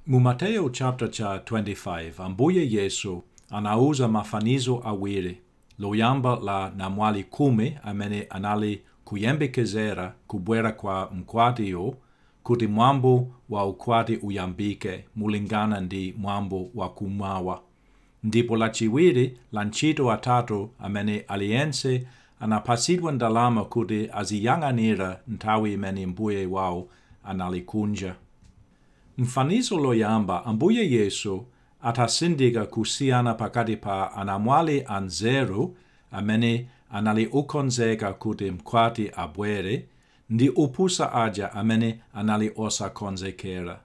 Mu Mateyo chapter cha 25, Ambuye Yesu anauza mafanizo awiri, loyamba la anamwali khumi amene anali kuyembekezera kubwera kwa mkwatiyo kuti mwambo wa ukwati uyambike mulingana ndi mwambo wa kum'mawa. ndipo lachiwiri la antchito atatu amene aliyense anapatsidwa ndalama kuti aziyang'anira nthawi imene mbuye wawo anali kunja. M'fanizo loyamba, Ambuye Yesu adatsindika kusiyana pakati pa anamwali anzeru amene anali okonzeka kuti mkwati abwere ndi opusa aja amene anali osakonzekera,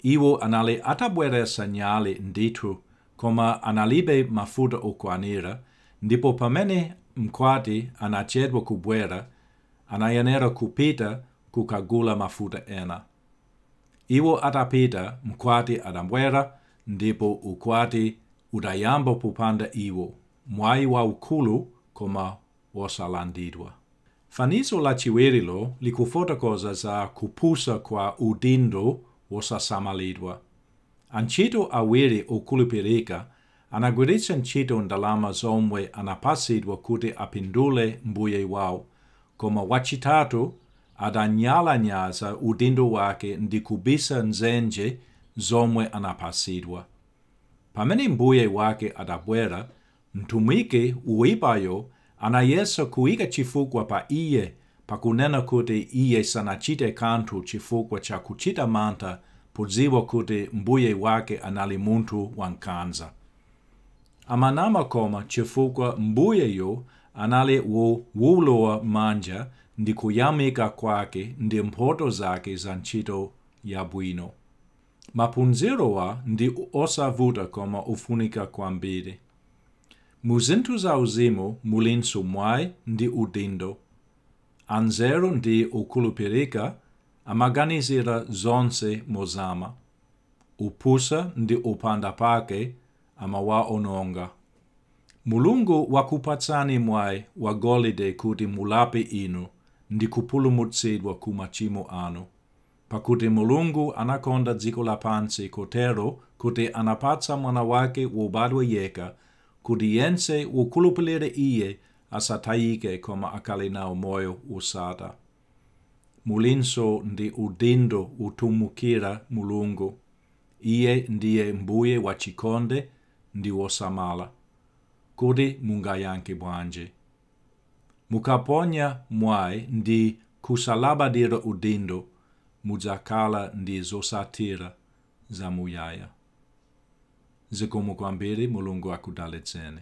Iwo anali atabweretsa nyali ndithu, koma analibe mafuta okwanira, ndipo pamene Mkwati anachedwa kubwera, anayenera kupita kukagula mafuta ena. Iwo atapita, Mkwati adabwera, ndipo ukwati udayamba popanda iwo, mwayi waukulu koma wosalandidwa. Fanizo lachiwirilo likufotokoza za kupusa kwa udindo wosasamalidwa. Antchito awiri okhulupirika anagwiritsa ntchito ndalama zomwe anapatsidwa kuti apindule mbuye wawo, koma wachitatu adanyalanyaza udindo wake ndi kubisa m'dzenje zomwe anapatsidwa. Pamene mbuye wake adabwera, Mtumiki woipayo anayesa kuika chifukwa pa iye pakunena kuti iye sanachite kanthu chifukwa cha kuchita mantha podziwa kuti Mbuye wake anali munthu wankhanza. Amanama koma chifukwa Mbuyeyo anali wowolowa manja ndi kuyamika kwake ndi mphoto zake za ntchito yabwino. Maphunzirowa ndi osavuta koma ofunika kwambiri. Mu zinthu za uzimu mulinso mwai ndi udindo. Anzeru ndi okhulupirika amaganizira zonse mozama. Opusa ndi opanda pake amawaononga. Mulungu wakupatsani mwai wa golide kuti mulape inu ndi kupulumutsidwa ku machimo anu. Pakuti Mulungu anakonda dziko lapansi kotero kuti anapatsa Mwana wake wobadwa yekha, kuti yense wokhulupirira Iye asatayike koma akhale nawo moyo wosatha. Mulinso ndi udindo wotumikira Mulungu. Iye ndiye Mbuye wachikonde ndi wosamala. Kodi mungayankhe bwanji? Mukaponya mwayi ndi kusalabadira udindo mudzakhala ndi zotsatira zamuyaya. Zikomo kwambiri Mulungu akudalitseni.